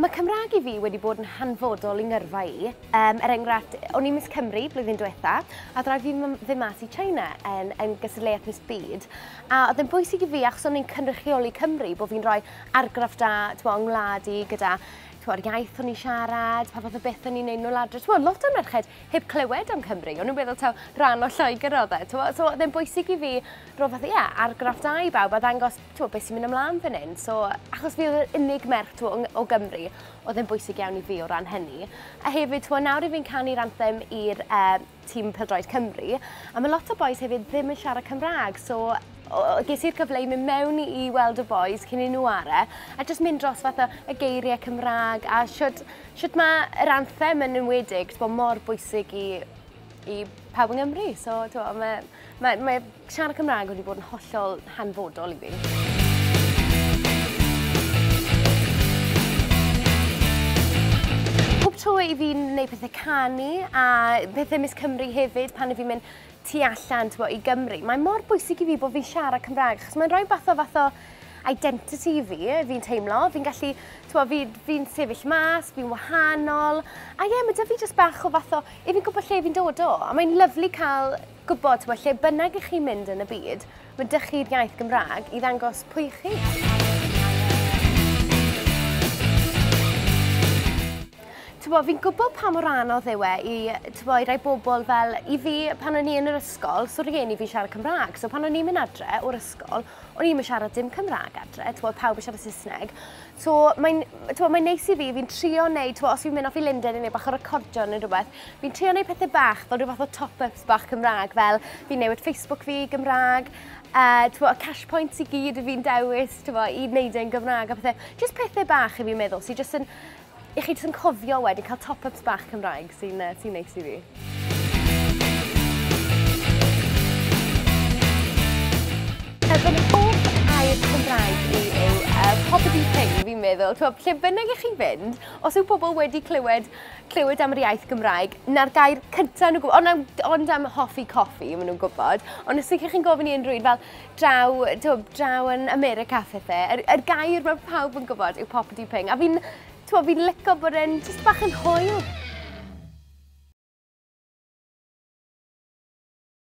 Mae Cymraeg i fi wedi bod yn hanfodol i ngyrfa i. Um, er enghraifft, o'n i'n Miss Cymru blwyddyn diwetha, a ddraed fi ddim mas i China yn, yn gystadleuaeth Miss Byd. A oedd yn bwysig i fi, achos o'n i'n cynrychioli Cymru, bod fi'n rhoi argraff da, ti'n yng ngwlad i, gyda yr iaith o'n i'n siarad, pa fath o beth o'n i'n neud nôl adre. Ti'n lot o merched heb clywed am Cymru, o'n nhw'n meddwl taw rhan o Lloegr oedd e. T'mo'? So oedd e'n bwysig i fi roi fath o, ie, argraff da i bawb a ddangos t'mo' beth sy'n mynd ymlaen fan hyn. So achos fi oedd yr unig merch t'mo' yng- o Gymru oedd e'n bwysig iawn i fi o ran hynny. A hefyd t'mo' nawr i fi'n canu'r anthem i'r yy tîm pêl-droed Cymru a ma' lot o bois hefyd ddim yn siarad Cymra'g so o- o- ges i'r cyfle i mynd mewn i i weld y bois cyn i nhw 'ware' a jyst mynd dros fath o y geirie Cymra'g a shwd Shwt mae yr anthem yn enwedig, ti'n bod, mor bwysig i, i pawb yng Nghymru. So, ti'n bod, mae, mae, mae siarad Cymraeg wedi bod yn hollol hanfodol i fi. tro i fi'n gwneud pethau canu a pethau Miss Cymru hefyd pan i fi'n mynd tu allan, t'bo', i Gymru. Mae mor bwysig i fi bod fi'n siarad Cymraeg, achos mae'n rhoi fath o fath o identity i fi, fi'n teimlo. Fi'n gallu, t'bo', fi, fi'n sefyll mas, fi'n wahanol. A ie, mae 'da fi jyst bach o fath o... I fi'n gwybod lle fi'n dod o. A mae'n lyflu cael gwybod, t'bo', lle bynnag i chi mynd yn y byd, Mae dysgu'r iaith Gymraeg i ddangos pwy ych chi. Tybo, fi'n gwybod pa mor anodd yw e i, tybo, i rai bobl fel, i fi, pan o'n i yn yr ysgol, so rhieni fi siarad Cymraeg, so pan o'n i'n mynd adre o'r ysgol, o'n i'n mynd siarad dim Cymraeg adre, tybo, pawb yn siarad Saesneg. So, mae'n mae neis i fi, fi'n trio neud, tybo, os fi'n mynd off i Linden i neud bach o recordio neu rhywbeth, fi'n trio neud pethau bach, fel rhywbeth o top-up Chat bach Cymraeg fel fi'n newid Facebook fi i Gymraeg, uh, twa, y cash points i gyd fi'n dewis twa, i wneud e'n Gymraeg a pethau. Just pethau bach i fi'n meddwl sy'n just yn... i chi just yn cofio wedyn cael top-ups bach Cymraeg sy'n uh, sy neis i fi. meddwl, lle bynnag i chi fynd, os yw pobl wedi clywed clywed am yr iaith Gymraeg, na'r gair cyntaf nhw'n gwybod, ond, ond am hoffi coffi, maen nhw'n gwybod. Ond os ydych chi'n gofyn i unrhyw un fel draw, to, draw yn America phethau, yr, er, er gair mae pawb yn gwybod yw poppity ping. A fi'n fi licio bod e'n just bach yn hwyl.